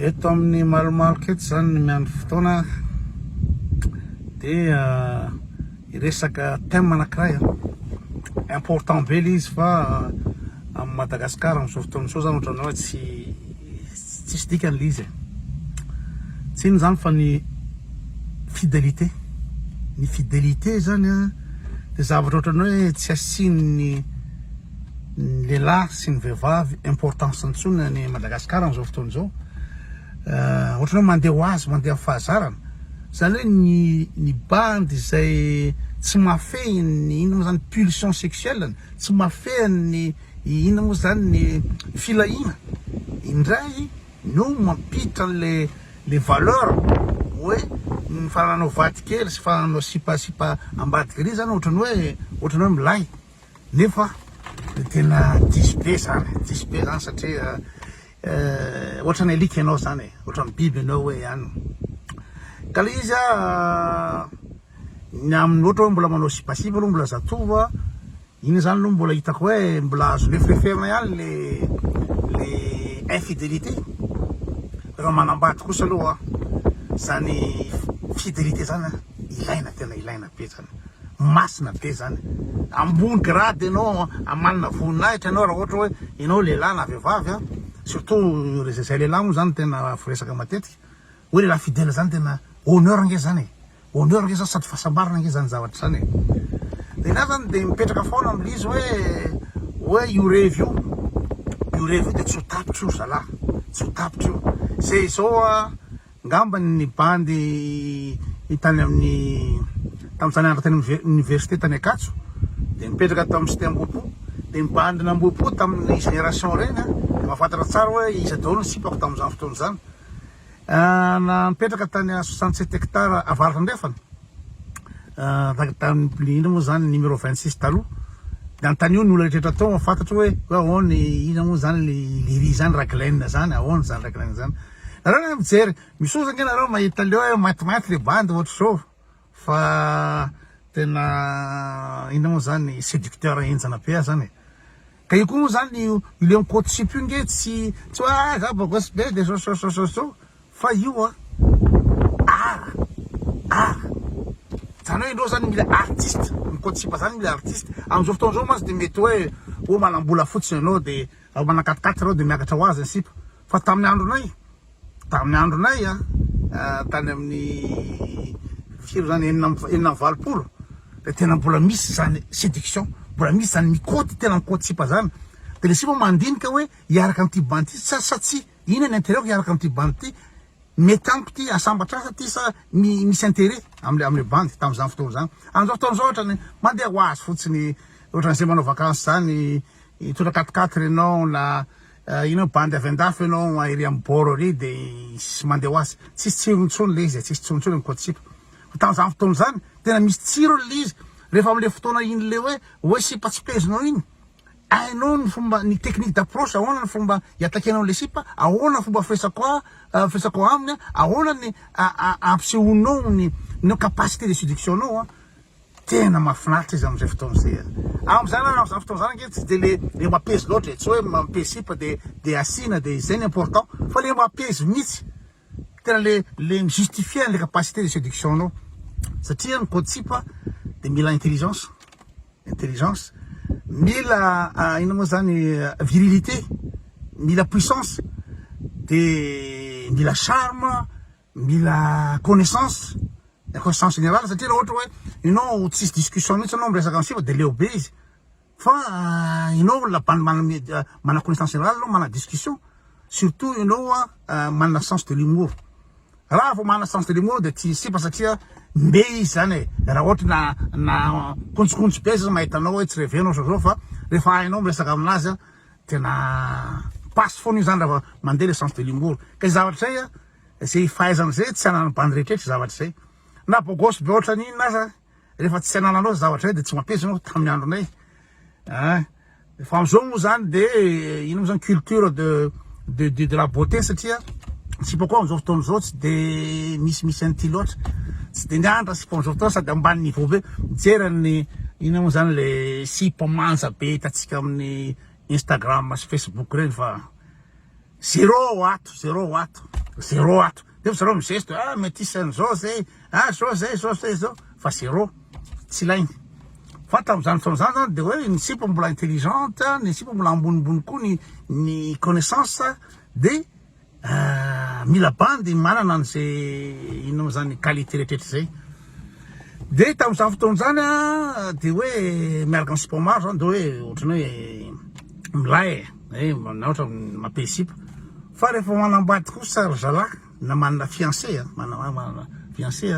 Eto amin'ny malomaloka eto izany ny miandry fotoana dia hiresaka eh, thème anankiray eh. important be ilay izy fa eh, amin'i Madagasikara amin'izao fotoana izao izany ohatran'ny hoe tsy tsisy dikany ilay izy e. Tsy inona izany fa ny fidelité. Ny fidelité izany dia zavatra ohatran'ny hoe tsy asian'ny ny lehilahy sy ny vehivavy importance intsony any Madagascar amin'izao fotoana izao euh, ohatrany hoe mandeha ho azy mandeha ho fahazarana zany hoe ny ny bandy izay tsy mafehin'ny inona moa zany pulsion sexuelle tsy mafehin'ny inona moa zany ny filahiana indray no mampiditra an'le le valeur hoe ny fananao vadikely sy fananao sipa sipa ambadik'ery zany ohatrany hoe ohatrany hoe milay Nefa tena diso be zany, diso be zany satria ohatran'ny alika ianao zany e, ohatran'ny biby ianao hoe ihany. Ka le izy ny aminy ohatra hoe mbola manao sipasipa aloha mbola zatovo a, iny zany aloha mbola hitako hoe mbola azo lefileferina ihany le le infidélité. Reo manambady kosa aloha zany fidelite zany ilaina tena ilaina be zany. masina be zany ambony grade enao amanina voninahitra enao raha ohatra hoe enao lehilahy na vehivavy a surtout ry zay lehilahy moa zany tena voresaka matetika hoe lehilahy fidèle zany tena honneur nge zany e honneur nge zany sady fahasambarana nge zany zavatra zany e de za zany de mipetraka foana aml'izy hoe hoe io revy io io revy io de tsy ho tapitra io ry zalahy tsy ho tapitra io zay zao a Ngamba ny bandy i tany amin'ny tamin'izany andro tany amin'ny université tany Ankatso dia nipetraka tao amin'ny cité Ambohipo dia ny bandy n'Ambohipo tamin'ny génération reny a dia mahafantatra tsara hoe iza daholo ny sipako tamin'izany fotoana izany na nipetraka tany à 67 hectares avaratra andrefana tahaka tany indrindra moa izany numéro 26 taloha dia antanio ny olona rehetra tao fantatro hoe hoe ahoana ina moa izany le liri izany raglena izany ahoana izany raglena izany Nareo nga mijery misosa nga nareo mahita leo hoe matimaty le bandy ohatra zao fa tena inona moa zany seducteur henjana be aza zany e ka io koa moa zany io leo ny court sipe io nge tsy tsy hoe ah za bogosy be de zao zao zao zao zao fa io a art art zany hoe indreo zany mila artiste ny court sipe zany mila artiste amizao fotoana zao mantsy de mety hoe oh manambola fotsiny enao de manakatikaty reo de miakatra ho azy ny sipa Fa tamin'ny andronay, tamin'ny andronay, tany amin'ny firy izany, enina amby enina amby valopolo, dia tena mbola misy izany séduction, mbola misy izany mikoty, tena mikoty sipa izany. Dia ilay sipa mandinika hoe hiaraka amin'ity bandy ity sa sa tsia, inona ny intérêt-ko hiaraka amin'ity bandy ity, mety amiko ity, asambatra asa ity sa misy intérêt amin'ilay amin'ilay bandy tamin'izany fotoana izany. Amin'izao fotoana izao ohatra ny mandeha ho azy fotsiny, ohatran'izay manao vakansy izany, hitondra quat-quatre ianao na Eh ino bandy avy andafy ianao a ery am bord ery de tsisy mandeha ho azy tsisy tsirony intsony le izy e tsisy tsirony intsony ny koatsipa fa tamin'izany fotoana izany tena misy tsirony le izy rehefa amle fotoana iny le hoe hoe sipa tsy pezinao iny hainao ny fomba ny technique d'approche ahoana ny fomba hiatakenao an'le sipa ahoana fomba firesako a eh, firesako aminy a ahoana ny a- a- ampisehoanao ny ny capacité de séduction nao a Tena mahafinaritra izy amin'izay fotoana izay a! Amin'izany ary amin'izany fotoana izany ange tsy dia le le mapez loatra e! tsy hoe mapez sipa dia dia asiana dia izay no important fa le mapez mihitsy! tena le le mi-justifier an'le capacité de séduction anao satria ny code sipa dia mila intelligence intelligence mila inona moa izany virilité mila puissance dia mila charme Mila connaissance, ny connaissance générale satria raha ohatra hoe ianao tsisy discussion mihitsy ianao miresaka an'i siva dia leo be izy fa ianao olona bandy manana connaissance générale ianao manana discussion surtout ianao manana sens de l'humour raha vao manana sens de l'humour dia tsy sipa satria mbe izy zany e raha ohatra na na kontsikontso be aza izy mahita anao hoe tsy revenao zao zao fa rehefa hainao miresaka aminazy tena passe foana io zany raha vao mandeha le sens de l'humour kay zavatra zay Izay fahaizana izay tsy ananan'ny bandy rehetra izay zavatra izay. Na bogosy be ohatran'ny inona aza rehefa tsy anananao izay zavatra izay dia tsy mampiasa ianao tamin'ny andronay. Ah, fa amin'izao moa izany dia eh, inona moa izany culture de de de de la beauté satria sipa koa amin'izao fotoana izao tsy dia misy misy an'ity loatra. Tsy dia mianatra sipa amin'izao fotoana sady ambany niveau be. Mijery an'ny inona moa izany le sipa manja be hitantsika amin'ny Instagram sy Facebook ireny fa Zero ato, zero ato, zero ato. Nefa zareo mizesto, ah metis an'izao zay, ah zao zay, zao zay, zao. Fa zero, tsy ilainy. Fa tamin'izany fotoana izany zany dia hoe ny sipa mbola intelligente, ny sipa mbola ambonimbony koa ny ny connaissance dia ah, mila bandy manana an'izay inona moa izany qualité rehetrarehetra izay. Dia tamin'izany fotoana izany dia hoe miaraka amin'ny sipa maro izany dia hoe ohatran'ny hoe milay e, eh, na ohatra mape sipa. Fa rehefa manambady kosa ry zalahy na manana fiancé, manana manana fiancé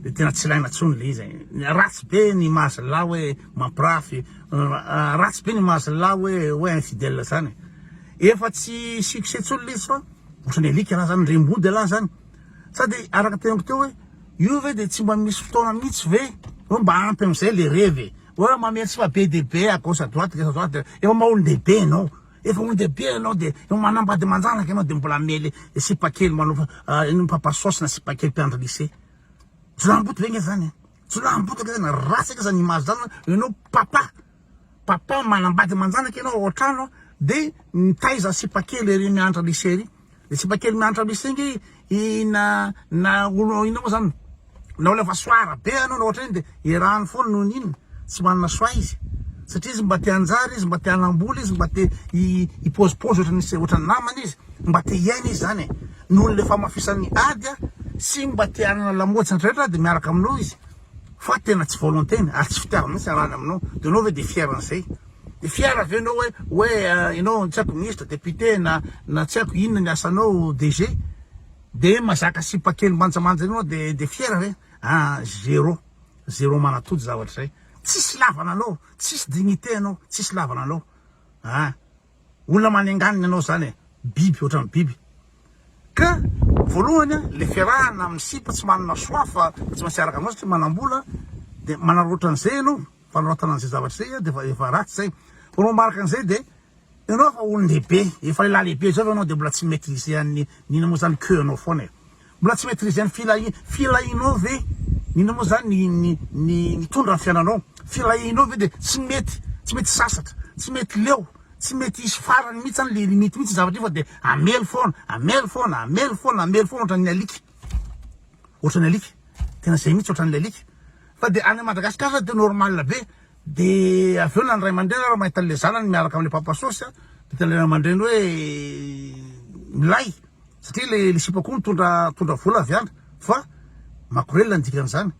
dia tena tsy ilaina intsony ilay izy e. Ratsy be ny maha zalahy hoe mampirafy, ah, ratsy be ny maha zalahy hoe hoe infidèle izany e. Efa tsy succès intsony ilay izy fa ohatran'ny alika raha izany, rem-body raha izany. Sady araka teniko teo hoe io ve dia tsy mba misy fotoana mihitsy ve hoe mba ampy amin'izay le revy e. Hoe mamehy tsy mba be dia be à gauche à droite gauche à droite dia efa maha olon-dehibe ianao. Efa olon-dehibe ianao dia efa manambady aman-janaka ianao dia mbola miely sipa kely manao ino mpapa saosy na sipa kely mpiandry lycée. Jolahimboto ve nge zany e. Jolahimboto ange zany ratsy ange zany image zany hoe ianao papa. Papa manambady aman-janaka ianao ao an-trano a, dia mitaiza sipa kely ery miantra lycée ery, le sipa kely miantra lycée nge i na na olona inona moa zany na olona efa soara be anao na ohatr'ireny dia erany foana noho ny inona tsy manana soa izy satria izy mba te hanjary izy mba te hanam-bola izy mba te hipozipozy ohatran'ny se- ohatran'ny namany izy mba te hiaina izy zany e, noho le famafisan'ny ady a, sy mba te hanana lamaody sy ny rehetra dia miaraka aminao izy. Fa tena tsy volonté-ny ary tsy fitiavana mihitsy iarahany aminao dia enao ve dia fier an'izay? Dia fier ve enao hoe hoe enao tsy haiko ministra, député na na tsy haiko inona ny asanao DG dia mazaka sipa kely manjamanja eo enao dia dia fier ve? Aa zéro zéro manatody zavatra izay, tsisy lavana anao, tsisy dignité anao, tsisy lavana anao aa. Olona manenganina ianao zany e! Biby ohatran'ny biby. Ka voalohany a, le fiarahana amin'ny sipa tsy manana choix fa tsy maintsy hiaraka aminao satria manam-bola, de manararaotra an'izay ianao, fanaraotana an'izay zavatra izay a, de efa efa ratsy zay. Vao manao manaraka an'izay de ianao efa olon-dehibe, efa lehilahy lehibe zao ve ianao de mbola tsy mi-maitriser an'ny, n'inona moa zany, queue-nao foana e! Mbola tsy maîtriser ny filahi filahinao ve? Inona moa zany ny ny ny nitondra ny fiainanao? Filahinao ve de tsy mety tsy mety sasatra, tsy mety leo, tsy mety hisy farany mihitsy zany le limite mihitsy io zavatra io fa de hamely foana, hamely foana, hamely foana, hamely foana ohatran'ny alika, ohatran'ny alika, tena zay mihitsy ohatran'ny alika, fa de any Madagascar zany de normal be Dia avy eo na ny ray aman-dreny ary mahita an'ilay zanany miaraka amin'ilay papa sôsy dia hitan'ilay ray aman-dreny hoe milay satria ilay ilay sipa koa mitondra mitondra vola avy any fa makorelina ny dikan'izany.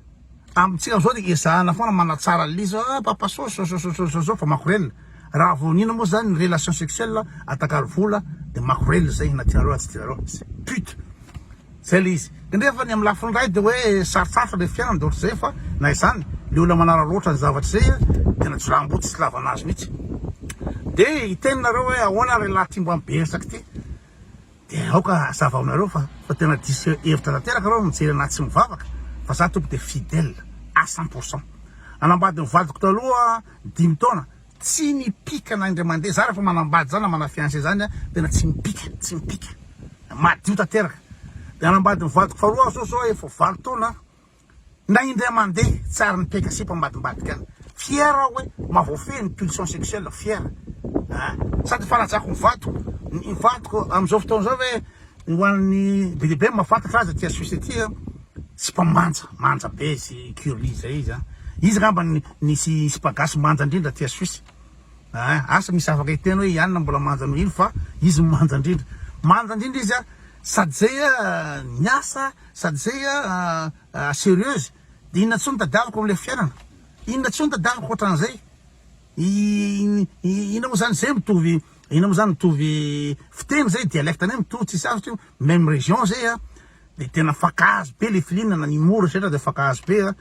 Amintsika amin'izao dia ezahana foana manatsara an'ilay izy ah papa sôsy zao zao zao zao zao fa makorelina. Raha vao iniana moa izany ny relation sexuelle atakalo vola dia makorelina izay na tianareo na tsy tianareo. Pute. Zay le izy. Kanefa ny amin'ny lafiny iray dia hoe sarotsarotra ilay fiainana dia ohatr'izay fa na izany le olona manararaotra ny zavatra izay a dia na jiramboto tsy ilavana azy mihitsy. Dia hiteny nareo hoe ahoana ary lahy ty mba mibersaka ity dia aoka hazava aminareo fa fa tena diso hevitra tanteraka reo mijery anah tsy mivavaka fa za tompoko dia fidèle à cent pour cent. Nanambady ny vadiko taloha dimy taona. Tsy mipika na indray mandeha zah rehefa manambady zah na mana fiancé zany a tena tsy mipika tsy mipika madio tanteraka de hanambady ny vadiko faharoa aho zao zao efa valo taona aho na indray mandeha tsy ary nipeka sipa ambadimbadika any fier aho hoe maha voafehy ny pulsion sexuel fier a sady efa rajako ny vadiko ny vadiko amizao fotoana zao hoe Ho an'ny be dia be ny mahafantatra azy aty à Suisse aty a, tsy mba manja, manja be izy, curly zay izy a. Izy angamba no nisy sipa gasy manja indrindra aty à Suisse a, asa misy afaka hiteny hoe i Anna mbola manja noho iny fa izy no manja indrindra. Manja indrindra izy a, sady zay a miasa, sady zay a serieuse, de inona tsony tadiaviko amle fiainana, inona tsony tadiaviko otran'zay. Ina mo zany zay mitovy ina mo zany mitovy fiteny zay dialecte ne mitovy tsy sarotra io meme region zay a de tena fakahazo be le filinana ny mora setra de fakahazo be a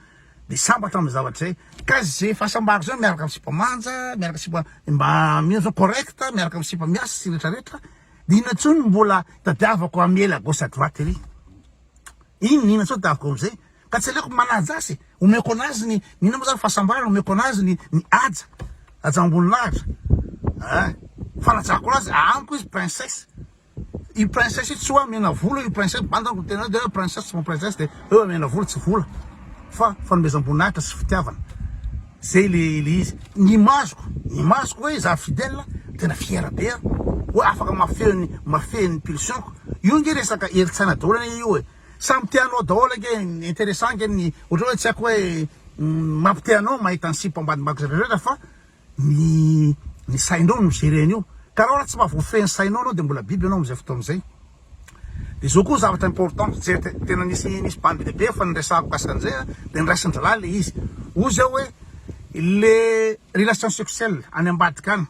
de sambatra am zavatra zay ka ze fahasambarako zay miaraka am sipa manja miaraka sipa mba mino zao correct miaraka am sipa miasa sy retra retra de ina tsony mbola tadiavako am ela gauche à droite ery iny ina tsony taviko am zay. Ka tsy aleoko manaja azy e! Omeko anazy ny, ny inona moa zany fahasambarana, omeko anazy ny, ny haja, hajam-boninahitra eh! Fanajako anazy, amiko izy princesse. Io princesse io tsy hoe amena vola io princesse, banda amiko ny tena hoe de hoe princesse tsy princesse de hoe amena vola tsy vola fa fanomezam-boninahitra sy fitiavana. Zay le, le izy. Ny imaziko, ny imaziko hoe za Fidèle tena fier be aho hoe afaka mafehy ny, mafehy ny pulsion-ko. Io nge resaka herin-tsaina daholo anie io e! Samy te hanao daholo ange, interessant ange ny ohatra hoe tsy haiko hoe mampi te anao mahita ny sipa ambadimbako zay rehetra fa ny ny sainao no gere an'io ka anao raha tsy mba voafehy ny sainao anao de mbola biby anao amzay fotoana zay de zao koa zavatra important zay tena nisy nisy bandy lehibe efa niresahako mikasika an'zay a de niraisin'ny zalahy le izy hoy zao hoe le relation sexuelle any ambadika any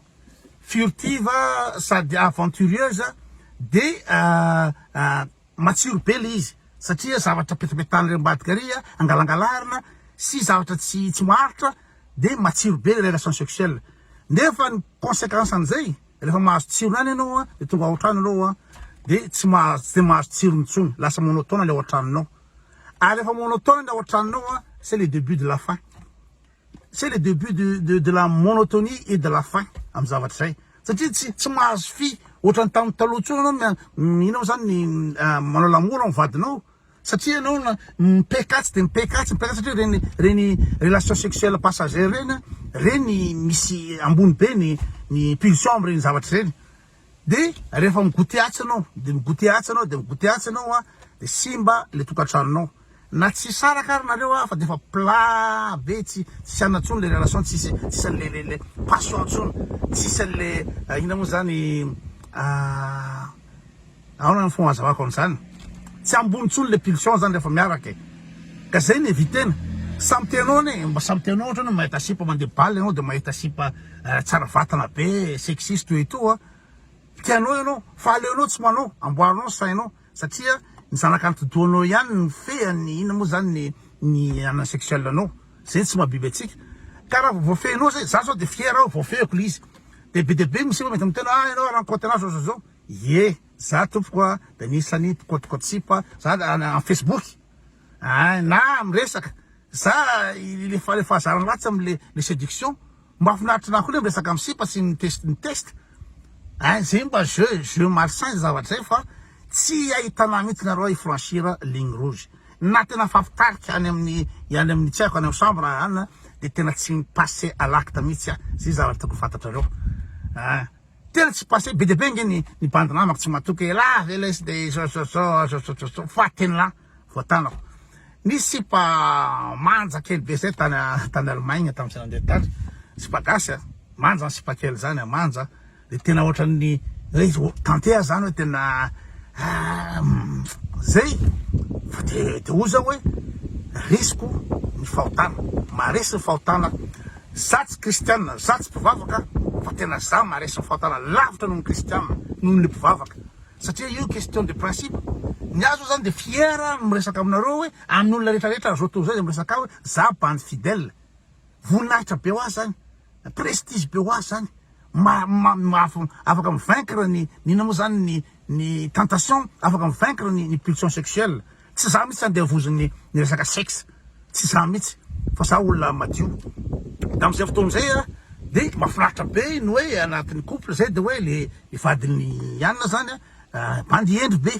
furtive sady aventureuse de Matsiro be le izy satria zavatra petapetahan'ireo ambadika ry angalangalarina sy zavatra tsy tsy maharitra de matsiro be le relation sexuelle nefa ny consequence an'izay rehefa mahazo tsirony any ianao a de tonga ao an-trano ianao a de tsy mahazo tsy de mahazo tsirony intsony lasa monotone le ao an-tranonao ary rehefa monotone le ao an-tranonao a c'est le debut de la fin. C'est le debut de de de la monotonie et de la fin am zavatra izay satria tsy tsy mahazo fy ohatran'ny tamin'ny taloha intsony anao mia inona moa zany manao l'amour am vadinao satria anao na mipec atsy de mipec atsy mipec atsy satria ireny ireny relation sexuelle passagère ireny ireny misy ambony be ny ny pulsion am ireny zavatra ireny De rehefa mi-goute atsy anao, de mi-goute atsy anao, de mi-goute atsy anao a, de simba le tokantranonao. Na tsy hisaraka ary nareo a, fa defa plat be, tsy tsisy anona tsony le relation, tsisy tsisy anle le le passion tsony, tsisy anle inona mo zany ah. Ahoana ny fomba anazavako an'izany? Tsy ambony intsony ilay pulsion izany rehefa miaraka e! Ka izay no eviter-na. Samy tianao anie, mba samy tianao ohatra hoe mahita sipa mandeha bal ianao dia mahita sipa tsara vatana be, sexy sy toy itoa, tianao ianao fa aleonao tsy manao, amboarinao ny sainao satria ny zanaka antidohanao ihany no fehiny ny inona moa izany ny anana sexuel anao, izay tsy maha biby antsika. Ka raha vao voafehinao izay, izaho izao dia fier aho voafehiko ilay izy, dia be dia be misy efa mety miteny hoe ah ianao rankohy tena zao zao zao. Ie za tompoko a de misy any pkotkotsipa za am facebook ein na miresaka za le le fahazarana ratsy am le le seduction mafinaritra na koa le miresaka am sipa sy mi test mi test ein ze mba jeux jeux malsain ze zavatra zay fa tsy ahitana mitsy nareo i franchir ligne rouge na tena mifampitarika any aminy any aminy tsy aiko any am chambre any de tena tsy mi passe à l'acte mitsy a ze zavatra tokony fantatrareo ein. Tena tsy passé be dia be nge ny bandy namako tsy matoky elah ve lesy de sosososososososo fatinlah voatanako nisy sipa manja kely be zay tany tany Allemagne tamin'ny zay nandeha tany sipa gasy a manja ny sipa kely zany a manja de tena ohatran'ny hoe tante zany hoe tena zay fa de de oza hoe risiko ny fahotana maharesy ny fahotana Za tsy kristianina, za tsy mpivavaka fa tena za maharesy ny fahotana lavitra noho ny kristianina, noho ny mpivavaka satria io question de principe, ny ahy zao zany dia fier aho miresaka aminareo hoe amin'ny olona rehetra rehetra zao tontolo zao izay miresaka ahy hoe za bandy fidèle, voninahitra be ho ahy zany, prestige be ho ahy zany. afaka mi vaincre ny inona moa zany ny ny tentation afaka mi vaincre ny ny pulsion sexuelle tsy za mitsy andevoziny ny resaka sexe tsy za mitsy fa za olona madio tamizay fotoana zay a de mafinaritra be ny oe anatiny couple zay de oe le le vadiny ianona zany a bandy hendry be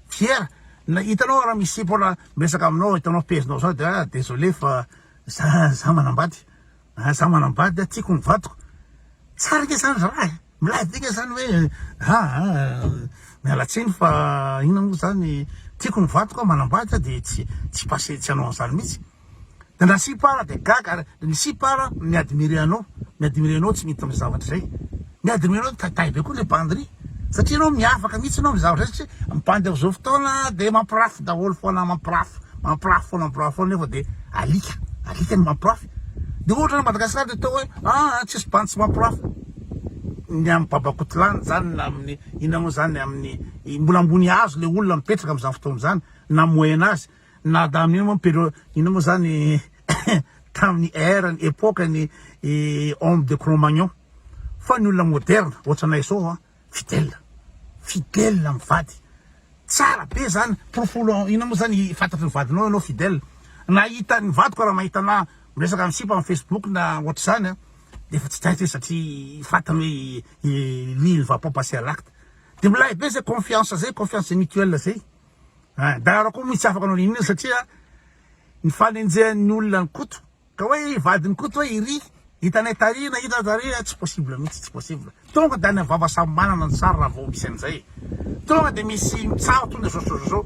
fier na itanao ra misy mpona miresaka aminao itanao pezinao zao de a desolee fa za za manambady Ah za manambady ah tiako ny vadiko. Tsara ange zany za eh. Milay be nge zany hoe ah, ah miala tsiny fa inona moa zany tiako ny vadiko ah manambady ah de tsy tsy passé tsy hanao an'zany mihitsy. De ndra sipa ara de gaga ary ny sipa ara mi admirer anao mi admirer anao tsy mety amin'ny zavatra zay. Miadana ianao tatahy be koa le bandy ry satria ianao miavaka mihitsy ianao mizara izay satria ny bandy amin'izao fotoana dia mampirafy daholo foana mampirafy mampirafy foana mampirafy foana nefa dia alika alika ny mampirafy dia ohatra ny Madagasikara dia atao hoe ah tsisy bandy tsy mampirafy ny amin'ny babakotilany izany na amin'ny inona moa izany amin'ny mbola ambony hazo ilay olona mipetraka amin'izany fotoana izany na moyen âge Na tamin'io moa pero inona moa zany tamin'ny ère-ny epoque-ny i homme de Cro-Magnon fa ny olona moderne ohatranay zao an fidèle fidèle amin'ny vady tsara be zany porofolo inona moa zany fantatry ny vadinao ianao fidèle na hitan'ny vadiko raha mahita anah miresaka amin'ny sipa amin'ny facebook na ohatr'izany an dia efa tsy taitra izy satria fantany hoe lui il ne va pas passer à l'acte dia milay be zay confiance zay confiance mutuelle zay. Hein, Dara koa moa tsy afaka nanao inona satria ny fanenjehan'ny olona an'i Koto ka hoe i vadin'i Koto hoe iry hitanay tary na hitanay tary tsy possible mihitsy, tsy possible. Tonga dia any amin'ny vava samy manana ny sary raha vao misy an'izay e. Tonga dia misy mitsaha tonga dia zao zao zao zao,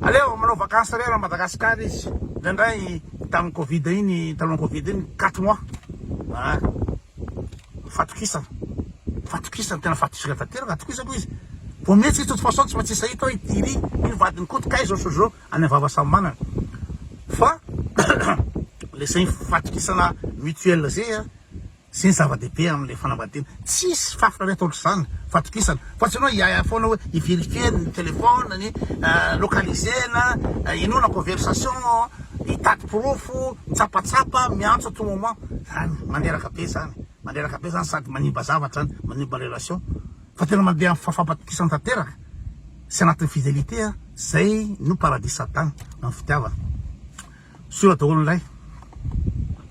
aleo manao vacances re raha Madagascar izy, indraindray tamin'ny covid iny, talohan'ny covid iny quatre mois, hein. Fatokisana. Fatokisana tena fatokisana tanteraka atokisako izy. Vao mihetsika i Toto Fason tsy maintsy sahiko hoe i Thierry iny vadin'i Koto kay zao so zao any am vava samy manana. Fa le zegny fatokisana mutuel zay a zegny zava dehibe amle fanambadiana. Tsisy fahafinaretana ohatr'izany fatokisana fa tsy anao hiahiahy foana hoe i verifier ny telephone ny localiser na inoana conversation hitady porofo mitsapatsapa miantso à tout moment. zany mandreraka be zany mandreraka be zany sady manimba zavatra zany manimba relation fa tena mandeha am fafampatokisana tanteraka sy anatin'ny fidelite a zay no paradis satana am fitiavana soa daholo lay